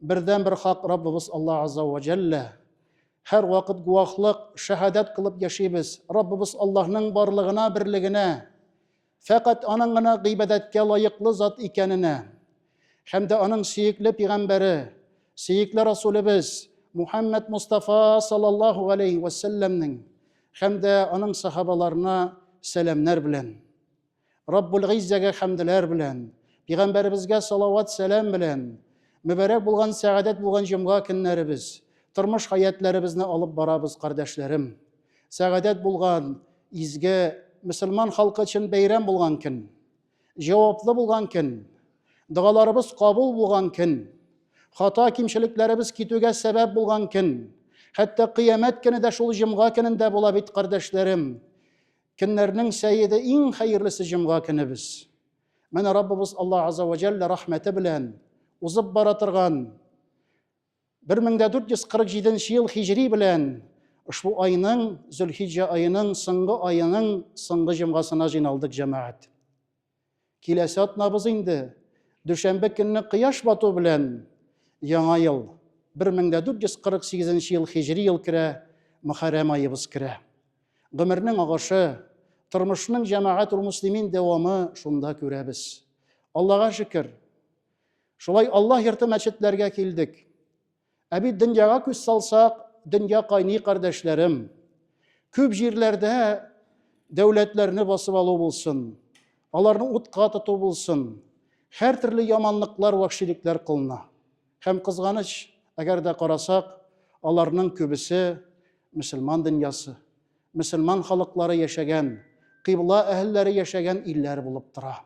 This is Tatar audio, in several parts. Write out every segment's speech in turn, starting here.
Бердән бер хак Раббыбыз Аллаһ Азза ва Җәллә. Һәр вакыт гуахлык, шәһадәт кылып яшибез. Раббыбыз Аллаһның барлыгына, берлегенә, фәкать аның гына гыйбадәткә лаеклы зат икәненә һәм дә аның сөекле пигамбәре, сөекле Расулебез Мухаммад Мустафа саллаллаһу галәйһи ва сәлләмнең һәм дә аның сахабаларына сәламнәр белән. Раббул Гыйззәгә хәмделәр белән, Пигамбәребезгә салават-сәлам белән, мөбарәк булган, сәгадәт булган җомга көннәребез, тормыш хәятләребезне алып барабыз, кардәшләрем. Сәгадәт булган, изге, мөселман халкы өчен бәйрәм булган көн. Җаваплы булган көн. Догаларыбыз кабул булган көн. Хата кимчелекләребез китүгә сәбәп булган көн. Хәтта кыямәт көне дә шул җомга көнендә була бит, кардәшләрем. Көннәрнең сәеде иң хәерлесе җомга көнебез. Менә Раббыбыз Аллаһ Азза ва Җәллә рәхмәте белән узып бара торган 1447 нче ел хиҗри белән ошбу айның, Зөлхиҗҗә аеның соңгы аеның соңгы җомгасына җыйналдык, җәмәгать. Киләсе атнабыз инде, дүшәмбе көнне кояш бату белән Яңа ел, 1448 ел хиҗри ел керә, Мөхәррәм аебыз керә. Гомернең агышы, тормышның җәмәгать-улмуслимин дәвамы шунда күрәбез. Аллага шөкер, шулай Аллаһ йорты мәчетләргә килдек. Ә бит дөньяга күз салсак, дөнья кайный, кардәшләрем. Күп җирләрдә дәүләтләрне басып алу булсын, аларны утка тоту булсын, һәр төрле яманлыклар, вахшилекләр кылына. Һәм кызганыч, әгәр дә карасак, аларның күбесе мөселман дөньясы, мөселман халыклары яшәгән, кыйбла әһелләре яшәгән илләр булып тора.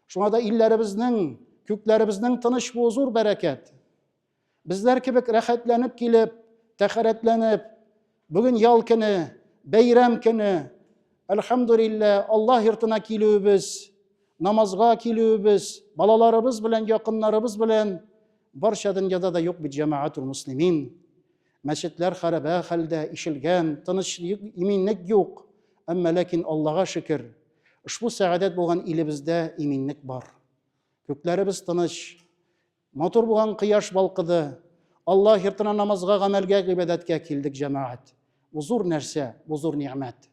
Шуңа да илләребезнең, күкләребезнең тыныч булуы зур бәрәкәт. Безләр кебек рәхәтләнеп килеп, тәхәрәтләнеп, бүген ял көне, бәйрәм көне, әлхәмдулиллә, Аллаһ йортына килүебез, намазга килүебез, балаларыбыз белән, якыннарыбыз белән барча дөньяда да юк бит җәмәгатул муслимин. Мәчетләр хәрабә хәлдә, ишелгән, тыныч иминлек юк. Әмма ләкин Аллага шөкер, ошбу сәгадәт булган илебездә иминлек бар. Күкләребез тыныч, Матур булган кояш балкыды. Алла йортына намазга, гамәлгә, гыйбадәткә килдек, җәмәгать. Бу зур нәрсә, бу зур нигъмәт.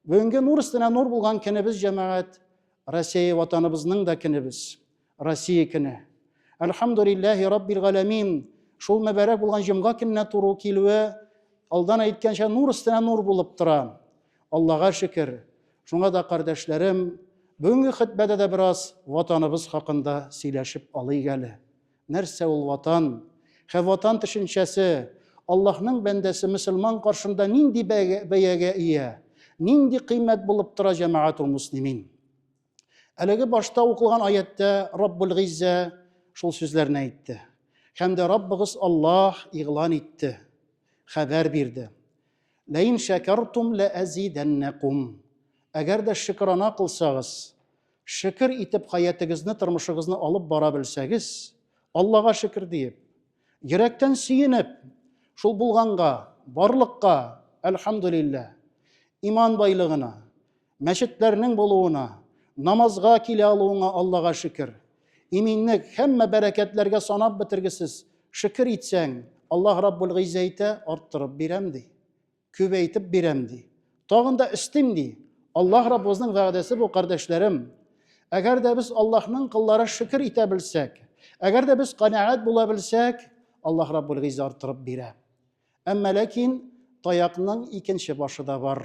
Бүгенге нур өстенә нур булган көнебез, җәмәгать, Россия ватаныбызның да көнебез, Россия көне. Әлхәмдүлилләһи раббил галәмин, шул мөбарәк булган җомга көненә туры килүе, алдан әйткәнчә, нур өстенә нур булып тора. Аллага шөкер! Шуңа да, кардәшләрем, бүгенге хөтбәдә дә бераз Ватаныбыз хакында сөйләшеп алыйк әле. Нәрсә ул Ватан? Хэ Ватан төшенчәсе Аллаһның бәндәсе мөселман каршында нинди бәягә ия, нинди кыйммәт булып тора, җәмәгатул муслимин? Әлеге башта укылган аяттә Раббул Гиззә шул сүзләрне әйтте. Һәм дә Раббыгыз Аллаһ игълан итте, хәбәр бирде. Ләин шәкәртум лә әзидәннәкум. Әгәр дә шөкрана кылсагыз, шөкер итеп хаятыгызны, тормышыгызны алып бара белсәгез, Аллага шөкер диеп, йөрәктән сөенеп, шул булганга, барлыкка, әлхамдулиллә, иман байлыгына, Мәчетләрнең булуына, намазга килә алуыңа Аллага шөкер. Иминлек, һәммә бәрәкәтләргә санап бетергесез шөкер итсәң, Аллаһ Раббул Гыйззә әйтә, арттырып бирәм ди. Күбәйтеп бирәм ди. Тагын да өстим ди. Аллаһ Раббыбызның вәгъдәсе бу, кардәшләрем. Әгәр дә без Аллаһның кыллары шөкер итә белсәк, әгәр дә без канәгать була белсәк, Аллаһ Раббул Гыйззә арттырып бирә. Әмма ләкин таякның икенче башы да бар.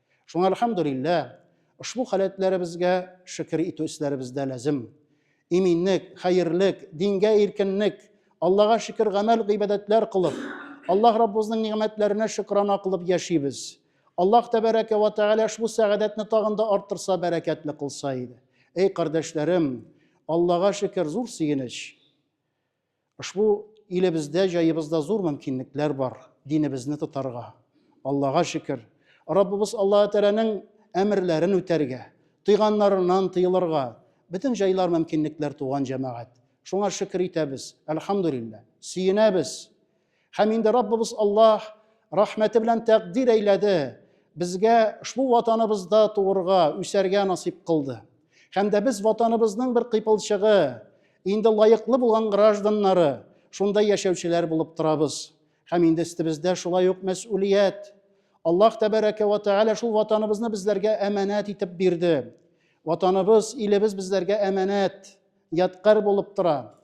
Шуңа әлхәмдүлиллә, ошбу халәтләребезгә шөкер итү эшләребез дә ләзем. Иминлек, хәерлек, дингә иркенлек, Аллага шөкер гамәл-гыйбадәтләр кылып, Аллаһ Раббыбызның нигъмәтләренә шөкрана кылып яшибез. Аллаһ Тәбәрәкә вә Тәгалә ошбу сәгадәтне тагын да арттырса, бәрәкәтле кылса иде. Әй кардәшләрем, Аллага шөкер, зур сөенеч. Ошбу илебездә, җаебызда зур мөмкинлекләр бар динебезне тотарга. Аллага шөкер, Раббыбыз Аллаһы Тәгаләнең әмерләрен үтәргә, тыйганнарыннан тыелырга бөтен җайлар, мөмкинлекләр туган җәмәгать. Шуңа шөкер итәбез, әлхәмдүлилләһ, сөенәбез. Һәм инде Раббыбыз Аллаһ рәхмәте белән тәкъдир әйләде, безгә шул ватаныбызда туырга, үсәргә насип кылды. Һәм дә без ватаныбызның бер кыйпылчыгы, инде лаеклы булган гражданнары, шунда яшәүчеләр булып торабыз. Һәм инде өстебездә шулай ук мәсъулият. Аллаһ тәбәрәкә вә тәгалә шул ватаныбызны безләргә әманәт итеп бирде. Ватаныбыз, илебез безләргә әманәт. ядкарь булып тора.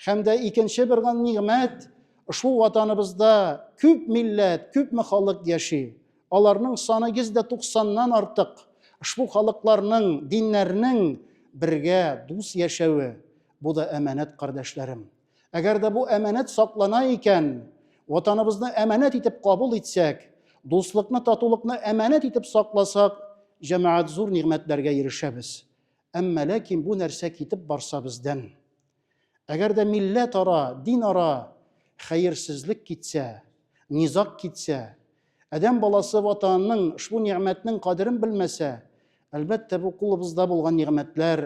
Һәм дә икенче бер нигъмәт, ошбу ватаныбызда күп милләт, күпме халык яши. Аларның саны 190-нан артык. Ошбу халыкларның, диннәрнең бергә дус яшәве, бу да әманәт, кардәшләрем. Әгәр дә бу әманәт саклана икән, ватаныбызны әманәт итеп кабул итсәк, дуслыкны, татулыкны әманәт итеп сакласак, җәмәгать зур нигъмәтләргә ирешәбез. Әмма ләкин бу нәрсә китеп барса бездән. Әгәр дә милләт ара, дин ара хәерсезлек китсә, низаг китсә, адәм баласы Ватанының ошбу нигъмәтнең кадерен белмәсә, әлбәттә, бу кулыбызда булган нигъмәтләр,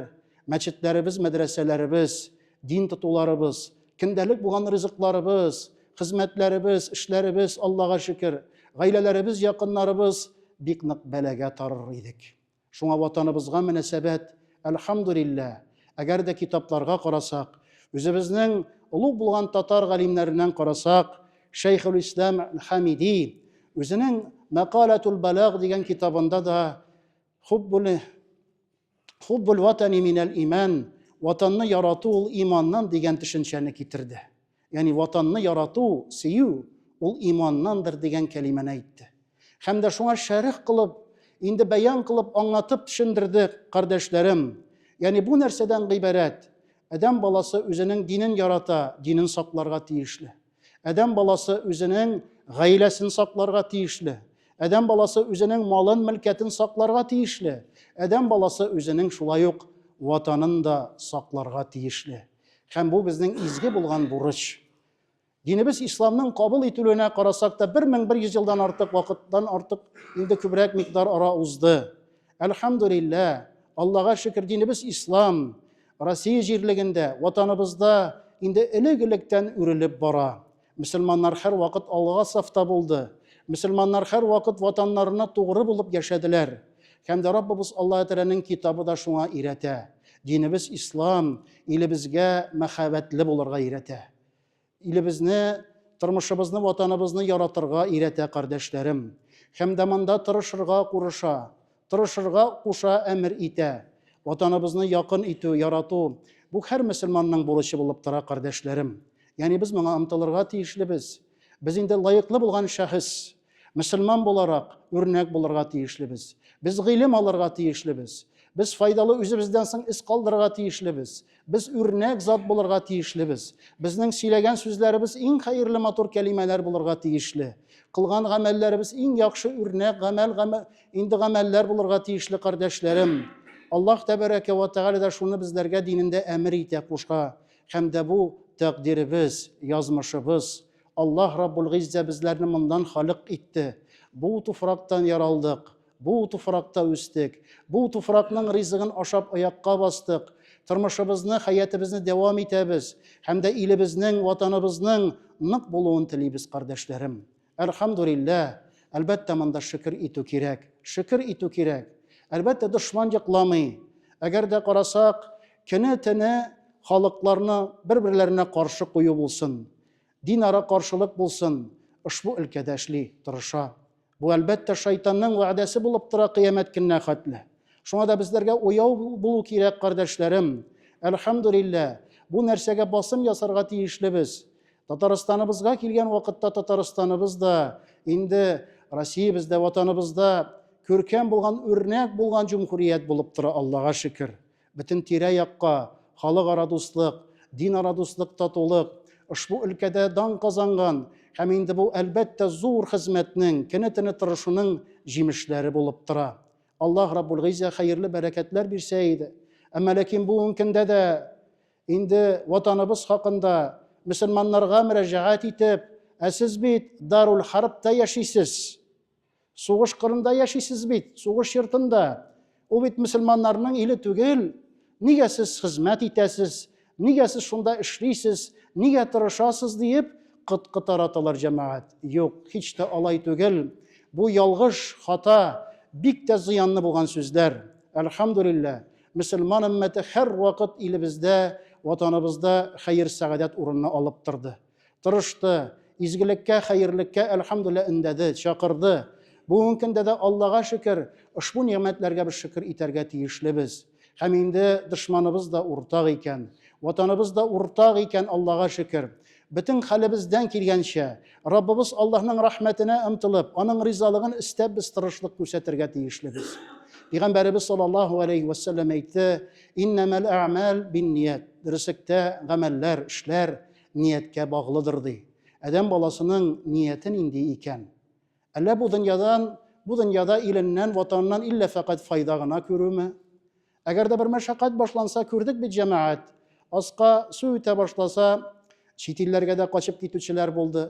мәчетләребез, мәдрәсәләребез, дин тотуларыбыз, көндәлек булган ризыкларыбыз, хезмәтләребез, эшләребез, Аллага шөкер, гаиләләребез, якыннарыбыз бик нык бәлагә тарыр идек. Шуңа Ватаныбызга мөнәсәбәт, әлхәмдүлилләһ, әгәр дә китапларга карасак, үзебезнең олуг булган татар галимнәреннән карасак, Шәйхелислам Хәмиди үзенең Мәкаләтул Бәлаг дигән китабында да Хуббул Хуббул ватани минәл имән, Ватанны ярату ул иманнан дигән төшенчәне китерде. Ягъни Ватанны ярату, сөю, ул иманнандыр дигән кәлимәне әйтте. Һәм дә шуңа шәрх кылып, инде бәян кылып, аңлатып төшендерде, кардәшләрем. Ягъни бу нәрсәдән гыйбарәт? Адәм баласы үзенең динен ярата, динен сакларга тиешле. Адәм баласы үзенең гаиләсен сакларга тиешле. Адәм баласы үзенең малын-мөлкәтен сакларга тиешле. Адәм баласы үзенең шулай ук Ватанын да сакларга тиешле. Һәм бу безнең изге булган бурыч. Динебез исламның кабул ителүенә карасак та 1100 елдан артык вакыттан артык инде күбрәк микъдар ара узды. Әлхәмдулилла, Аллага шөкер, динебез ислам. Россия җирлегендә, ватаныбызда инде элек-электән үрелеп бара. Мөселманнар һәрвакыт алга сафта булды. Мөселманнар һәрвакыт ватаннарына тугры булып яшәделәр. Һәм дә Раббыбыз Аллаһы Тәгаләнең Китабы да шуңа өйрәтә. Динебез Ислам илебезгә мәхәббәтле булырга өйрәтә. Илебезне, тормышыбызны, ватаныбызны яратырга өйрәтә, кардәшләрем. Һәм дә монда тырышырга курыша. Тырышырга куша, әмер итә. Ватаныбызны якын итү, ярату, бу һәр мөселманның бурычы булып тора, кардәшләрем. Ягъни без моңа омтылырга тиешлебез. Без инде лаеклы булган шәхес. Мөселман буларак, үрнәк булырга тиешлебез. Без гыйлем алырга тиешлебез. Без файдалы үзебездән соң эз калдырырга тиешлебез. Без үрнәк зат булырга тиешлебез. Безнең сөйләгән сүзләребез иң хәерле матур кәлимәләр булырга тиешле. Кылган гамәлләребез иң яхшы үрнәк гамәл, гамәл инде гамәлләр булырга тиешле, кардәшләрем. Аллаһ тәбәрәкә вә тәгалә дә шуны безләргә динендә әмер итә, куша. Һәм дә бу тәкъдиребез, язмышыбыз. Аллаһ Раббул Гыйззә безләрне моннан халык итте. Бу туфрактан яралдык. Бу туфракта үстек. Бу туфракның ризыгын ашап аякка бастык. Тормышыбызны, хәятебезне дәвам итәбез. Һәм дә илебезнең, ватаныбызның нык булуын телибез, кардәшләрем. Әлхәмдүлиллә! Әлбәттә, монда шөкер итү кирәк. Шөкер итү кирәк. Әлбәттә, дошман йокламый. Әгәр дә карасак, көне-төне халыкларны бер-берләренә каршы кую булсын, динара каршылык булсын, ошбу өлкәдә эшли, тырыша. Бу, әлбәттә, шайтанның вәгъдәсе булып тора кыямәт көненә хәтле. Шуңа да безләргә уяу булу кирәк, кардәшләрем. Әлхәмдулиллә, бу нәрсәгә басым ясарга тиешлебез. Татарстаныбызга килгән вакытта Татарстаныбыз да, инде Россиябез дә ватаныбызда күркәм булган, үрнәк булган җумһурият булып тора, Аллага шөкер. Бөтен тирә-якка халыкара дуслык, динара дуслык, татулык, ошбу өлкәдә дан казанган һәм инде бу, әлбәттә, зур хезмәтнең, кенә-тенә тырышуның җимешләре булып тора. Аллаһ Раббул-Гыйззә хәерле бәрәкәтләр бирсә иде. Әмма ләкин бүген көндә дә инде Ватаныбыз хакында мөселманнарга мөрәҗәгать итеп, Ә сез бит Дарул-Хәрбтә яшисез! Сугыш кырында яшисез бит, сугыш йортында. Ул бит мөселманнарның иле түгел. Нигә сез хезмәт итәсез? Нигә сез шунда эшлисез? Нигә тырышасыз? диеп, кыт-кыт араталар җәмәгать. Юк, һич тә алай түгел. Бу ялгыш, хата, бик тә зыянлы булган сүзләр. Әлхәмдүлиллә, мөселман өммәте һәрвакыт илебездә, Ватаныбызда хәер-сәгадәт урынны алып торды. Тырышты, изгелеккә, хәерлеккә, әлхәмдүлилләһ, өндәде, чакырды. Бүгенге көндә дә, Аллага шөкер, ошбу нигъмәтләргә без шөкер итәргә тиешлебез. Һәм инде дошманыбыз да уртак икән. Ватаныбыз да уртак икән, Аллага шөкер. Бөтен хәлебездән килгәнчә, Раббыбыз Аллаһның рәхмәтенә омтылып, Аның ризалыгын эстәп без тырышлык күрсәтергә тиешлебез. Пигамбәребез саллаллаһу галәйһи вә сәлләм әйтте, Иннәмәл әгъмәл бинният, дөреслектә, гамәлләр, эшләр, нияткә баглыдыр, ди. Адәм баласының нияте нинди икән? Әллә бу дөньядан, бу дөньяда иленнән, ватаныннан иллә фәкать файда гына күрүме? Әгәр дә бер мәшәкать башланса, күрдек бит, җәмәгать, аска су үтә башласа, чит илләргә дә качып китүчеләр булды.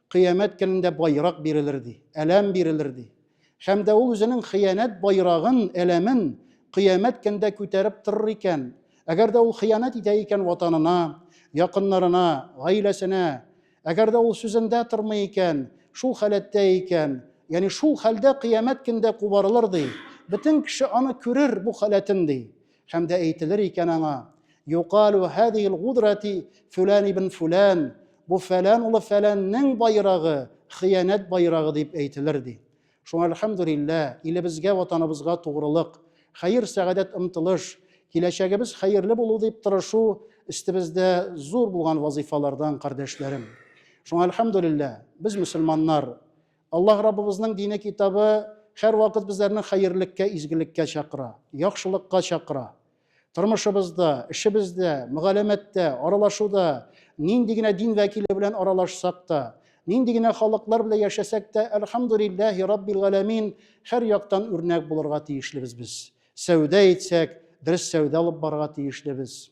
Кыямәт көнендә байрак бирелер, ди, әләм бирелер, ди. Һәм дә ул үзенең хыянәт байрагын, әләмен кыямәт көндә күтәреп торыр икән. Әгәр дә ул хыянәт итә икән ватанына, якыннарына, гаиләсенә, әгәр дә ул сүзендә тормый икән, шул халәттә икән, ягъни шул хәлдә кыямәт көндә кубарылыр, ди. Бөтен кеше аны күрер, бу халәтен, ди. Һәм дә әйтелер икән аңа, Юкалу хәдил гудрати фүлән ибн фүлән, бу фәлән улы фәләннең байрагы, хыянәт байрагы дип әйтелер ди. Шуңа әлхәмдүлиллә, илебезгә, ватаныбызга тугрылык, хәер, сәгадәт омтылыш, киләчәгебез хәерле булу дип тырышу өстебездә зур булган вазифалардан, кардәшләрем. Шуңа әлхәмдүлиллә, без мөселманнар, Аллаһ Раббыбызның дине китабы һәрвакыт безләрне хәерлеккә, изгелеккә чакыра, яхшылыкка чакыра. Тормышыбызда, эшебездә, мөгаләмәттә, аралашуда, нинди генә дин вәкиле белән аралашсак та, нинди генә халыклар белән яшәсәк тә, әлхәмдүлилләһи раббил галәмин, һәр яктан үрнәк булырга тиешлебез без. Сәүдә итсәк, дөрес сәүдә алып барырга тиешлебез.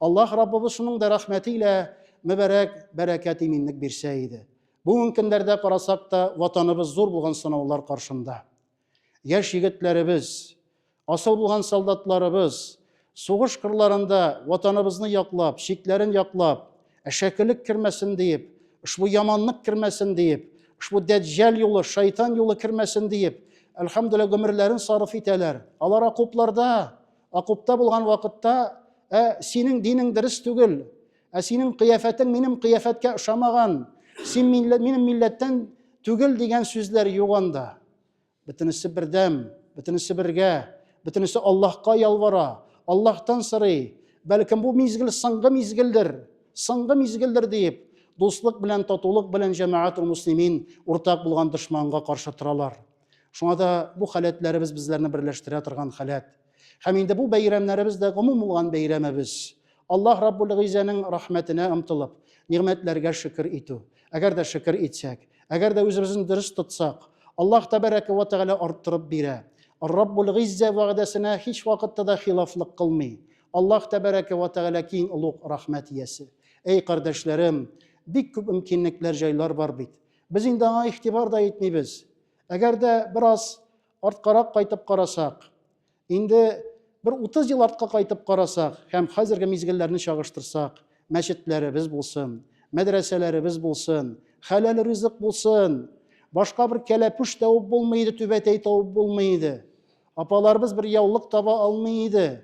Аллаһ Раббыбыз шуның да рәхмәте илә мөбарәк бәрәкәт иминлек бирсә иде. Бүген көннәрдә карасак та, ватаныбыз зур булган сынаулар каршында. Яшь егетләребез, асыл булган солдатларыбыз сугыш кырларында ватаныбызны яклап, чикләрен яклап, әшәкелек кермәсен диеп, ошбу яманлык кермәсен диеп, ошбу дәҗҗәл юлы, шайтан юлы кермәсен диеп, әлхәмдүлилләһ, гомерләрен сарыф итәләр. Алар окопларда Акупта булган вакытта, ә синең динең дөрес түгел, ә синең кыяфәтең минем кыяфәткә ошамаган, син минем милләттән түгел дигән сүзләр юк анда. Бөтенесе бердәм, бөтенесе бергә, бөтенесе Аллаһка ялвара, Аллаһтан сорый. Бәлкем бу мизгел соңгы мизгелдер, соңгы мизгелдер диеп, дуслык белән, татулык белән җәмәгатул муслимин уртак булган дошманга каршы торалар. Шуңа да бу халәтләребез безләрне берләштерә торган халәт. Һәм инде бу бәйрәмнәребез дә гомум булган бәйрәмебез. Аллаһ Раббул Гыйзәнең рәхмәтенә омтылып, нигъмәтләргә шөкер итү. Әгәр дә шөкер итсәк, әгәр дә үзебезне дөрес тотсак, Аллаһ Тәбәрәкә вә Тәгалә арттырып бирә. Раббул Гыйзә вәгъдәсенә һич вакытта да хилафлык кылмый. Аллаһ Тәбәрәкә вә Тәгалә киң олуг рәхмәт иясе. Әй, кардәшләрем, бик күп мөмкинлекләр, җайлар бар бит. Без инде аңа игътибар да итмибез. Әгәр дә бераз арткарак кайтып карасак, инде бер 30 ел артка кайтып карасак һәм хәзерге мизгелләрне чагыштырсак, мәчетләребез булсын, мәдрәсәләребез булсын, хәләл ризык булсын, башка бер кәләпүш табып булмый иде, түбәтәй табып булмый иде. Апаларыбыз бер яулык таба алмый иде.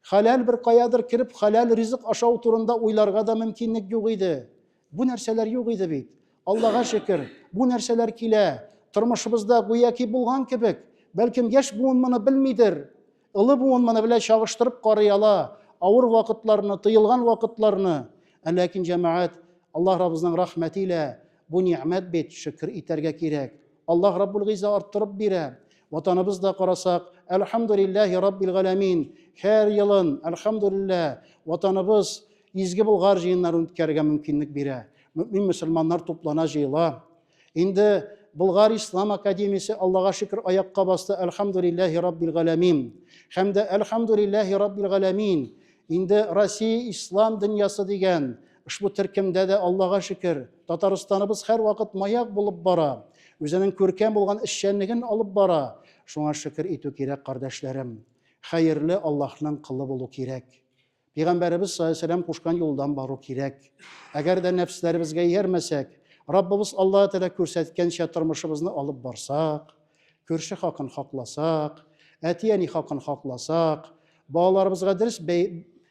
Хәләл бер каядыр кереп, хәләл ризык ашау турында уйларга да мөмкинлек юк иде. Бу нәрсәләр юк иде бит. Аллага шөкер, бу нәрсәләр килә. Тормышыбызда гүяки булган кебек. Бәлкем, яшь буын моны белмидер. Олы буын моны белән чагыштырып карый ала, авыр вакытларны, тыелган вакытларны. Ә ләкин, җәмәгать, Аллаһ Раббыбызның рәхмәте илә бу нигъмәт бит, шөкер итәргә кирәк. Аллаһ Раббул Гыйза арттырып бирә. Ватаныбызда карасак, әлхәмдүлилләһи Раббил Галәмин, һәр елын, әлхәмдүлиллә, Ватаныбыз Изге Болгар җыеннарын үткәрергә мөмкинлек бирә. Мөэмин-мөселманнар туплана, җыела. Инде Болгар Ислам Академиясе, Аллага шөкер, аякка басты, әлхәмдүлилләһи Раббил Галәмин. Һәм дә, әлхәмдүлилләһи Раббил Галәмин, инде Россия Ислам дөньясы дигән Ошбу төркемдә дә, Аллага шөкер, Татарстаныбыз һәрвакыт маяк булып бара, үзенең күркәм булган эшчәнлеген алып бара. Шуңа шөкер итү кирәк, кардәшләрем. Хәерле Аллаһның колы булу кирәк. Пигамбәребез салләһу-галәйһи-ва-сәлләм кушкан юлдан бару кирәк. Әгәр дә нәфесләребезгә иярмәсәк, Раббыбыз Аллаһы Тәгалә күрсәткәнчә тормышыбызны алып барсак, күрше хакын хакласак, әти-әни хакын хакласак, балаларыбызга дөрес бәй,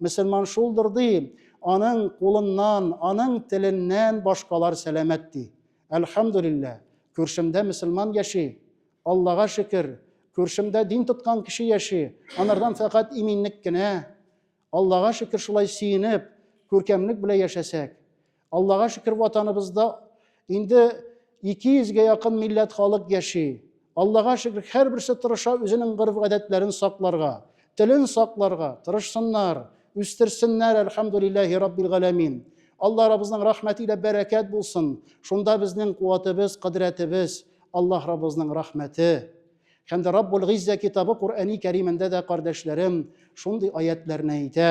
Мөселман шулдыр, ди, аның кулыннан, аның теленнән башкалар сәламәт, ди. Әлхәмдүлиллә, күршемдә мөселман яши. Аллага шөкер, күршемдә дин тоткан кеше яши, анардан фәкать иминлек кенә. Аллага шөкер, шулай сөенеп, күркәмлек белә яшәсәк. Аллага шөкер, ватаныбызда инде 200 гә якын милләт халык яши. Аллага шөкер, һәрберсе тырыша үзенең гореф-гадәтләрен сакларга, телен сакларга, тырышсыннар, үстерсеннәр, әлхәмдүлилләһи раббил галәмин. Алла Раббызның рәхмәте илә бәрәкәт булсын. Шунда безнең куәтебез, кыдырәтебез, Аллаһ Раббызның рәхмәте. Һәм дә Раббул Гиззә китабы Куръәни Кәримендә дә, кардәшләрем, шундый аятьләрне әйтә.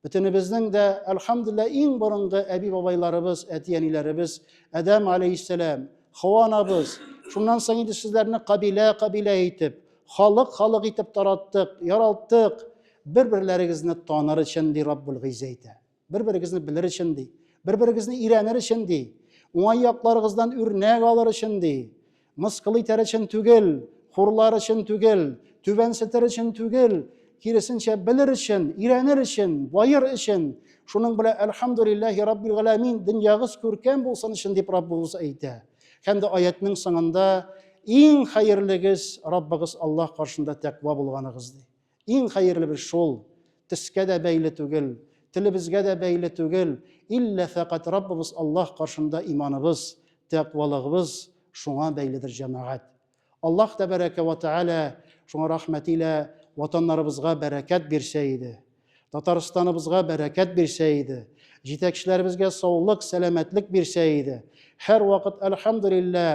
Бөтенебезнең дә, әлхәмдүлилләһ, иң борынгы әби-бабайларыбыз, әти-әниләребез, Адәм алейһиссәлам, Хава анабыз, шуннан соң инде сезләрне кабилә-кабилә итеп, халык-халык итеп тараттык, яралттык, бер-берләрегезне таныр өчен, ди Раббул Гыйззә әйтә. Бер-берегезне белер өчен, ди. Бер-берегезне өйрәнер өчен, ди. Уңай якларыгыздан үрнәк алыр өчен, ди. Мыскыл итәр өчен түгел, хурлар өчен түгел, түбәнсетер өчен түгел, киресенчә белер өчен, өйрәнер өчен, баер өчен. Шуның белән әлхамдулиллахи раббил галәмин дөньягыз күркәм булсын өчен дип Раббыбыз әйтә. Һәм дә аятның соңында иң хәерлегез Раббыгыз Аллаһ каршында тәкъва булганыгыз ди. Иң хәерле бер шул, төскә дә бәйле түгел, телебезгә дә бәйле түгел, иллә фәкать Раббыбыз Аллаһ каршында иманыбыз, тәкъвалыгыбыз шуңа бәйледер, җәмәгать. Аллаһ тәбәрәкә вә тәгалә шуңа рәхмәтилә ватаннарыбызга бәрәкәт бирсә иде. Татарстаныбызга бәрәкәт бирсә иде, җитәкчеләребезгә саулык, сәламәтлек бирсә иде. Һәрвакыт, әлхәмдүлиллә,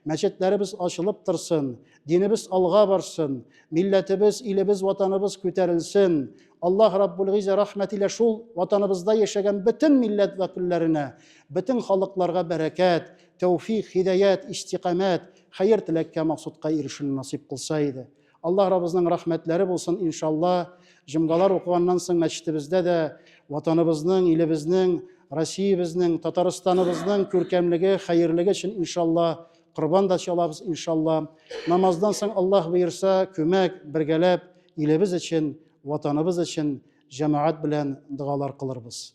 мәчетләребез ачылып торсын, динебез алга барсын, милләтебез, илебез, ватаныбыз күтәрелсен. Аллаһ Раббул Гыйззә рәхмәтилә шул ватаныбызда яшәгән бөтен милләт вәкилләренә, бөтен халыкларга бәрәкәт, тәүфик, һидаять, истикамәт, хәер-теләккә, максудка ирешүне насыйп кылса иде. Аллаһ Раббызның рәхмәтләре булсын, иншалла, җомгалар укыганнан соң мәчетебездә дә ватаныбызның, илебезнең, Россиябезнең, Татарстаныбызның күркәмлеге, хәерлеге өчен иншалла корбан да чалабыз иншалла. Намаздан соң Аллаһ боерса, күмәк бергәләп илебез өчен, ватаныбыз өчен җәмәгать белән догалар кылырбыз.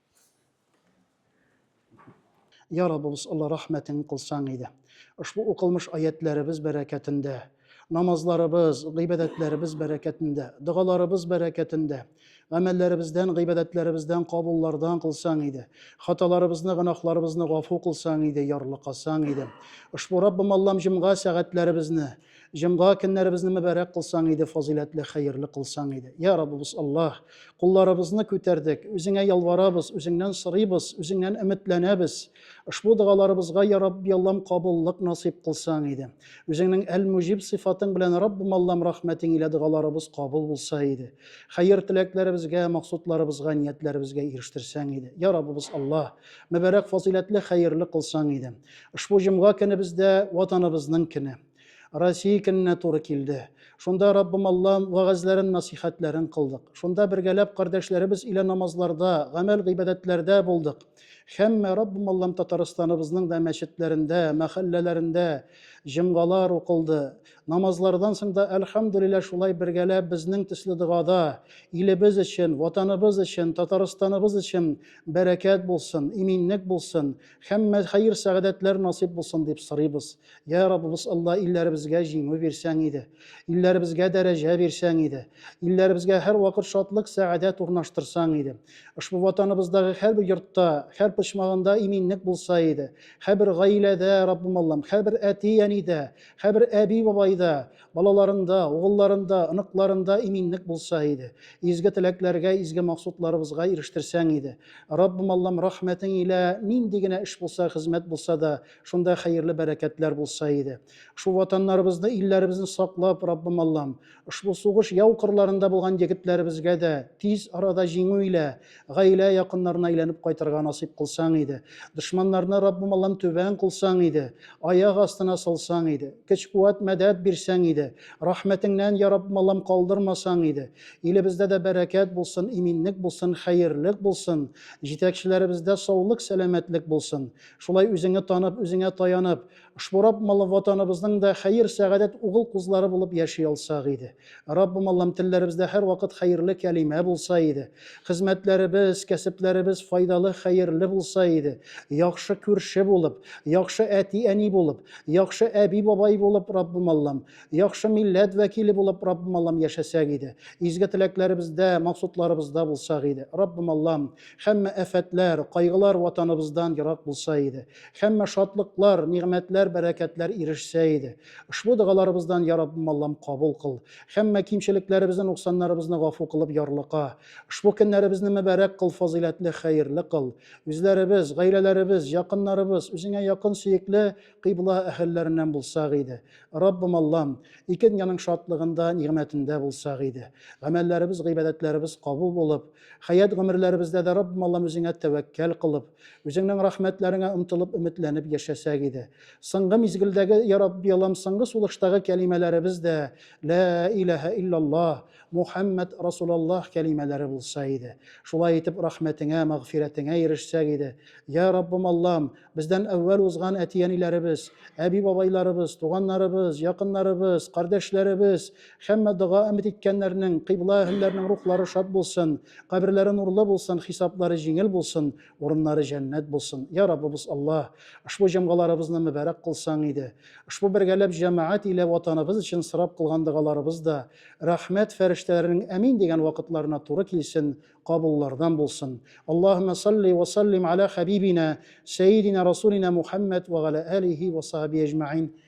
Я Раббыбыз, Алла рәхмәтең кылсаң иде. Ошбу укылмыш аятләребез бәрәкәтендә, намазларыбыз, гыйбадәтләребез бәрәкәтендә, догаларыбыз бәрәкәтендә, гамәлләребездән, гыйбадәтләребездән, кабуллардан кылсаң иде. Хаталарыбызны, гөнаһларыбызны гафу кылсаң иде, ярлыкасаң иде. Ошбу Раббым Аллам җомга сәгатьләребезне, Җомга көннәребезне мөбарәк кылсаң иде, фазыйләтле, хәерле кылсаң иде. Я Раббыбыз Аллаһ, кулларыбызны күтәрдек, үзеңә ялварабыз, үзеңнән сорыйбыз, үзеңнән өметләнәбез. Ошбу догаларыбызга, я Рабби Аллам, кабуллык насыйп кылсаң иде. Үзеңнең Әл-Муҗиб сыйфатың белән, Раббым Аллам, рәхмәтең илә догаларыбыз кабул булса иде. Хәер теләкләребезгә, максутларыбызга, ниятләребезгә ирештерсәң иде. Я Раббыбыз Аллаһ, мөбарәк, фазыйләтле, хәерле кылсаң иде. Ошбу җомга көне бездә Ватаныбызның көне, Россия көненә туры килде. Шунда Раббым Аллам вәгазьләрен, насыйхәтләрен кылдык. Шунда бергәләп кардәшләребез илә намазларда, гамәл-гыйбадәтләрдә булдык. Һәммә Раббым Аллам Татарстаныбызның да мәчетләрендә, мәхәлләләрендә җомгалар укылды. Намазлардан соң да, әлхәмдүлилла, шулай бергәләп безнең төсле догада, илебез өчен, Ватаныбыз өчен, Татарстаныбыз өчен бәрәкәт булсын, иминлек булсын, Һәммә хәер сәгадәтләр насыйп булсын дип сорыйбыз. Я Раббыбыз Алла, илләребезгә җиңү бирсәң иде, илләребезгә дәрәҗә бирсәң иде, илләребезгә һәр вакыт шатлык, сәгадәт урнаштырсаң иде. Ошбу ватаныбыздагы һәр бер йортта, һәр почмагында иминлек булса иде. Һәр бер гаиләдә, Раббым Аллам, һәр бер әти-әнидә, һәр бер әби-бабайда Балаларында, угылларында, оныкларында иминлек булса иде. Изге теләкләргә, изге максутларыбызга ирештерсәң иде. Раббым Аллам, рәхмәтең илә нинди генә эш булса, хезмәт булса да, шунда хәерле бәрәкәтләр булса иде. Шул ватаннарыбызны, илләребезне саклап, Раббым Аллам, ошбу сугыш яу кырларында булган егетләребезгә дә тиз арада җиңү илә, Гаилә якыннарына әйләнеп кайтырга насыйп кылсаң иде. Дошманнарны Раббым Аллам түбән кылсаң иде. Аяк астына салсаң иде. Көч-куәт, мәдәт бирсәң иде. Рәхмәтеңнән, йа Раббым Аллам, калдырмасаң иде. Илебездә дә бәрәкәт булсын, иминлек булсын, хәерлек булсын. Җитәкчеләребездә саулык-сәламәтлек булсын. Шулай үзеңне танып, үзеңә таянып. Ошбу Рабб малы ватаныбызның да хәер, сәгадәт угыл кузлары булып яши алсак иде. Раббым Аллам, телләребездә һәрвакыт хәерле кәлимә булса иде. Хезмәтләребез, кәсепләребез файдалы, хәерле булса иде. Яхшы күрше булып, яхшы әти-әни булып, яхшы әби-бабай булып, Раббым Аллам, яхшы милләт вәкиле булып, Раббым Аллам, яшәсәк иде. Изге теләкләребездә, максутларыбызда булсак иде. Раббым Аллам, һәммә афәтләр, кайгылар ватаныбыздан ерак булса иде. Һәммә шатлыклар, нигъмәтләр, бәрәкәтләр ирешсә иде. Ошбу догаларыбыздан, Я Раббым Аллам, кабул кыл. Һәммә кимчелекләребезне, нуксаннарыбызны гафу кылып, ярлыка. Ошбу көннәребезне мөбарәк кыл, фазыйләтле, хәерле кыл. Үзләребез, гаиләләребез, якыннарыбыз Үзеңә якын, сөекле кыйбла әһелләреннән булсак иде. Раббым Аллам, ике дөньяның шатлыгында, нигъмәтендә булсак иде. Гамәлләребез, гыйбадәтләребез кабул булып, Хәят гомерләребездә дә Раббым Аллам үзеңә тәвәккәл кылып, үзеңнең рәхмәтләреңә омтылып, өметләнеп яшәсәк иде. Соңгы мизгелдәге, я Рабби Аллам, соңгы сулыштагы кәлимәләребез дә Лә иләһә иллаллаһ, Мухәммәд Расулаллаһ кәлимәләре булса иде. Шулай итеп, рәхмәтеңә, мәгъфирәтеңә ирешсәк иде. Я Раббым Аллам, бездән әүвәл узган әти-әниләребез, әби-бабайларыбыз, туганнарыбыз, якыннарыбыз, кардәшләребез, Һәммә дога өмет иткәннәрнең, кыйбла әһелләренең рухлары шат булсын, каберләре нурлы булсын, хисаплары җиңел булсын, урыннары җәннәт булсын. Йа Раббыбыз Аллаһ, ошбу җомгаларыбызны мөбарәк кылсаң иде. Ошбу бергәләп җәмәгать илә Ватаныбыз өчен сорап кылган догаларыбыз да рәхмәт фәрештәләренең әмин дигән вакытларына туры килсен, кабуллардан булсын. Аллаһуммә салли вә саллим ала хәбибинә, сәйидинә расулинә Мухәммәд вә галә әлихи вә сахабихи әҗмәгыйн.